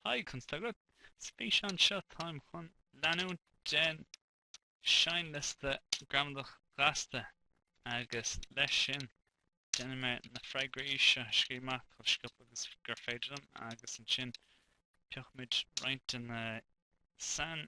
Hi, conas tá agat, san fhíseán seo, táim chun leanúint den seinnliosta gramadach ghasta agus leis sin déanfaidh mé na freagraí seo a scríobh amach chomh sciobtha agus gur féidir liom agus ansin piocfaimid roinnt de na sain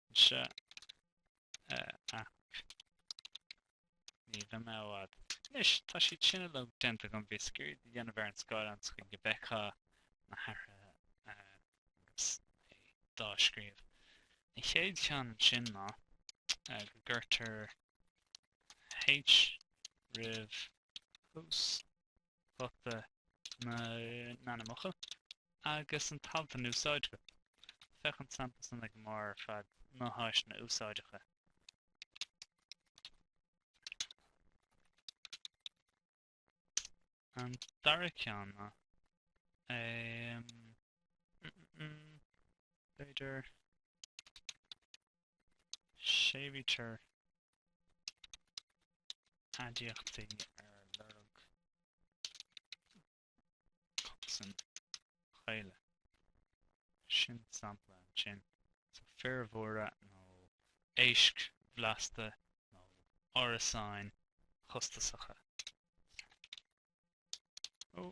Mise a athair. Ní bheidh mé i bhfad. Anois, tá siad sin uilig déanta agam, bhíos ag iarraidh é a dhéanamh ar an scáileán sa chaoi go bhfeicfeá na hathruithe agus é dá scríobh. An chéad cheann ansin ná go gcuirtear H roimh thús ghuta na n-ainmfhocal agus an t-alt in úsáid go. Féach an sampla san ag an mbarr ar fad, na háiseanna úsáideacha. An dara ceann ná. B'fhéidir. Séimhítear aidiachtaí ar lorg consain chaola. Sin sampla ansin. So fir mhóra nó éisc bhlasta nó árasáin chostasacha. Ó!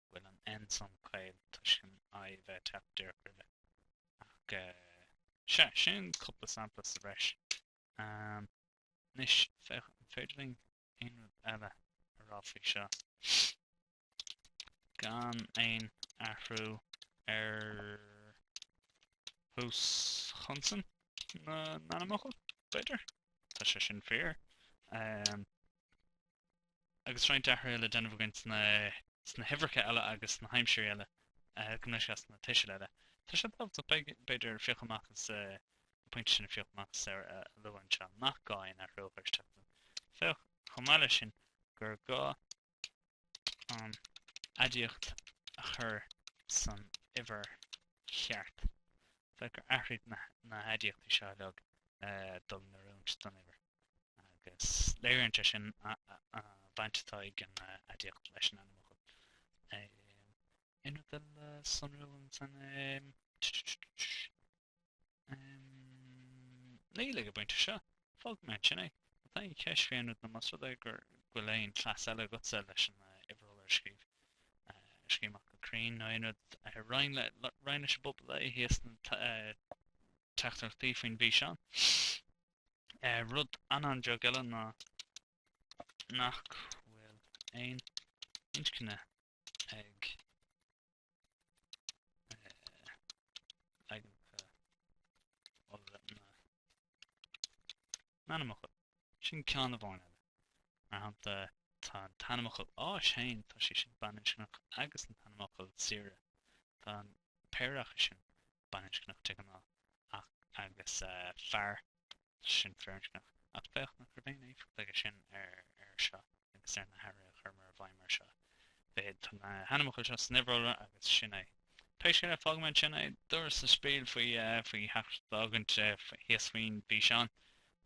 bhfuil an N san caol toisc an I a bheith ag teacht díreach roimhe. Ach sea, sin cúpla sampla sa bhreis. Anois, féach an féidir linn aon rud eile a rá faoi seo gan aon athrú ar thús chonsan na n-ainmfhocal, b'fhéidir? Tá sé sin fíor. agus roinnt athruithe le déanamh againn sna huimhreacha eile agus sna haimsirí eile gabh mo leithscéal sna tuisil eile. Tá sé tábhachtach b'fhéidir piocadh amach as an pointe sin a phiocadh amach as is a lua anseo, nach gá aon athrú a chur isteach ann. Féach, chomh maith leis sin, gur gá an aidiacht a chur san uimhir cheart. Féach gur athraigh na haidiachtaí seo uilig le dul in oiriúint don uimhir. agus léiríonn sé sin an bhaint atá ag an aidiacht leis an ainmfhocal. Aon rud eile sonrúil ansan? Níl ag an bpointe seo, fágfaidh mé ansin é. Má tá aon cheist fé aon rud nó más rud é go bhfuil aon chleas eile agatsa leis an uimhir iolra a scríobh, scríobh amach go cruinn nó aon rud, roinn leis an bpobal é thíos sna teachtaireachtaí faoin bhfíseán. Rud an-deas eile ná nach bhfuil aon inscne ag leaganacha iolra na n-ainmfhocal. Sin ceann amháin eile. Mar shampla, tá an t-ainmfhocal áis féin, tá sé sin baininscneach, agus an t-ainmfhocal saoire, tá an péire acu sin baininscneach de ghnáth, ach agus fear, sin firinscneach, ach féach nach raibh aon éifeacht aige sin ar ar seo agus ar na hathruithe a chuireamar i bhfeidhm ar seo. Mar tá na hainmfhocail seo san uimhir iolra agus sin é. Pé scéal é, fágfaidh mé ansin é. Dúras an spiel faoi faoi thrácht d'fhágaint thíos faoin bhfíseán.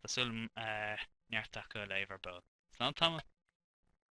Tá súil agam neart acu a léamh ar ball. Slán tamall!